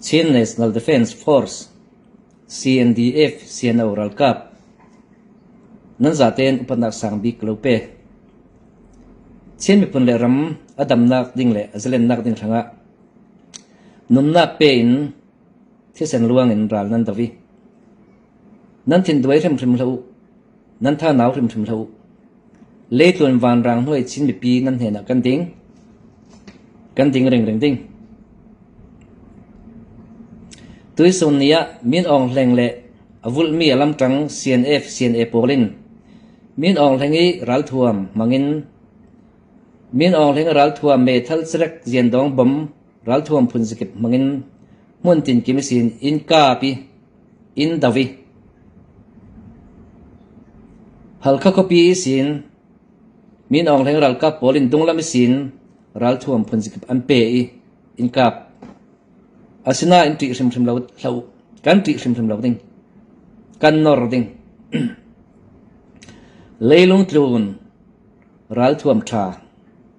Chin National Defence Force CNDF CNO ralkap nan zah tein upatnak sangbik ka lo pek. Chin miphun le ram a damnak ding le a zalennak ding hrangah nunnak pe in thisen luang in ral nan doh i Nan thinduai hrimhrim hlah u, nan thanau hrimhrim hlah u. Leitluan vanrang hnuai Chin mipi nan hnenah kan ding, kan ding ringring ding. Tuisun ni ah Min Aung Hleng le a vulhmi a lamṭang CNF CNA pawl in Min Aung Hleng i ralthuam hmangin Min Aung Hleng ralthuam meithal sarek ziandong bom ralthuam phun zakip hmangin hmuntin kim sin innka pi Inn dau i Halkha khuapi isin Min Aung Hlaing ralkap pawl in dunglam isin ralthuam phunzakip an pe i inn kap. Asinain ṭih hrimhrim lo hlah uh. Kan ṭih hrimhrim lo ding. Kan nor ding. Leilung tlun ralthuam ṭha.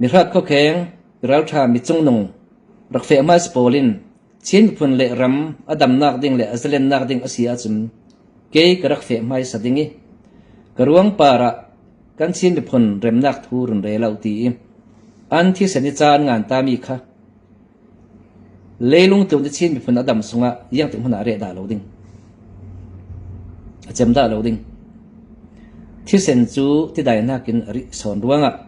Mihrat khuakheng, miralṭha micungnung, rak feh hmanh si pawl in Chin miphun le ram a damnak ding le a zalennak ding a si ahcun kei ka rak feh hmaisa ding i ka ruang par ah kan Chin miphun remnak thu run re lo ti i an thisen i caan ngan tami kha Leilung tluk nih Chin miphun a dam sungah iangtik hmun ah reh dah lo ding, a cem dah lo ding. Thisen cu tidainak in a rih sawn ruangah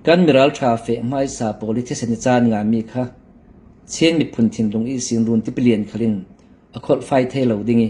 kan miralṭha feh hmaisa pawl i thisen i caan nganmi kha Chin miphun thinlung i sinrun tipilian khalin a kholhfai thai lo ding i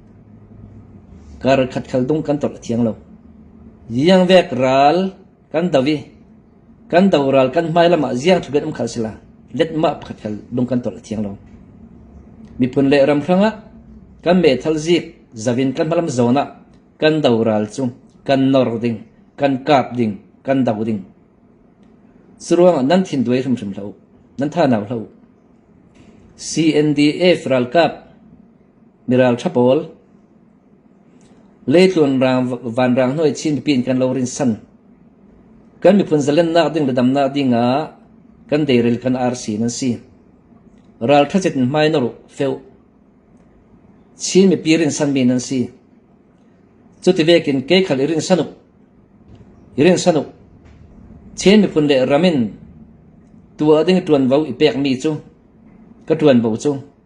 Kar khatkhat dong kan tawlh a thiang lo. Ziang vek ral kan do i, kan do ral kan hmai lam ah ziang tluk in um khal sila, letmah pakhat khal dong kan tawlh a thiang lo. Miphun le ram hrang ah kan meithal zik zavin kan hmalam zawn ah kan do ral cu kan nor ding, kan kap ding, kan do ding. Curuangah nan thin duai hrimhrim hlah u. Nan tha nau hlah u. CNDF ralkap Miralṭha pawl, leetluan raang, vanraang hnuai chin mipi in kan lo rinsan. Kan miphun zalennak ding le damnak ding ah kan deirel kan arsi nan si. Ralṭha zet in hmai na ruh feu. Chin mipi rinsanmi nan si. Cuti vekin ke khal i rinsanuk, i rinsanuk, Chin miphun le ramin tua ding ṭuan vo i pekmi cu ka ṭuan bo cu.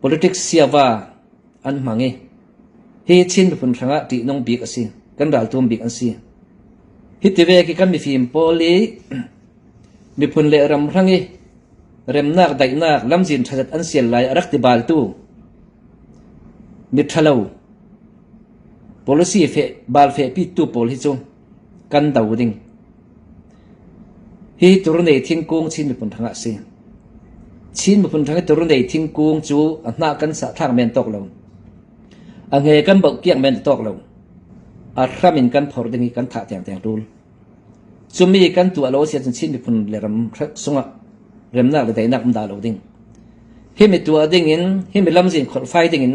Politics siava an hmang i hi Chin miphun hrangah ṭihnung bik a si, kan raltum bik an si. Hiti ve khi kan mifim pawl i miphun le ram hrang i remnak daihnak lamzin ṭhaset an sial lai a rak ti baltu miṭhalo, policy fe, bal fehpitu pawl hi cu Kan do ding. Hihi Turnei thingkung Chin miphun hrang ah a si. Chin miphun hrang i Turnei thingkung cu a hnah kan sah thlak men tawk lo. A nge kan boh kiak men tawk lo. A hram in kan phor ding i kan thah tiang tiang ṭul. Cumi kan tu alo si cun Chin miphun le ram sungah remnak le daihnak um da lo ding. Himi tuah ding in, himi lamzin kholfai ding in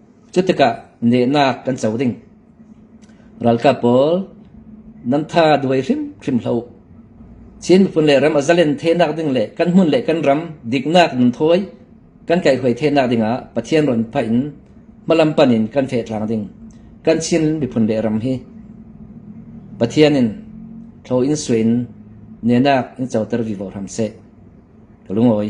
Cutikah nehnak kan co ding: Ralkap pawl nan tha duai hrimhrim hlah u. Chin miphun le ram a zalen thenak ding le kan hmun le kan ram diknak nan thawi kan kaihhruai thenak dingah Pathian rawn phah in hmalampan in kan fehtlang ding, kan Chin miphun le ram hi. Pathian in thlaw in suai in nehnak in coter vivo hram seh. Ka lungawi.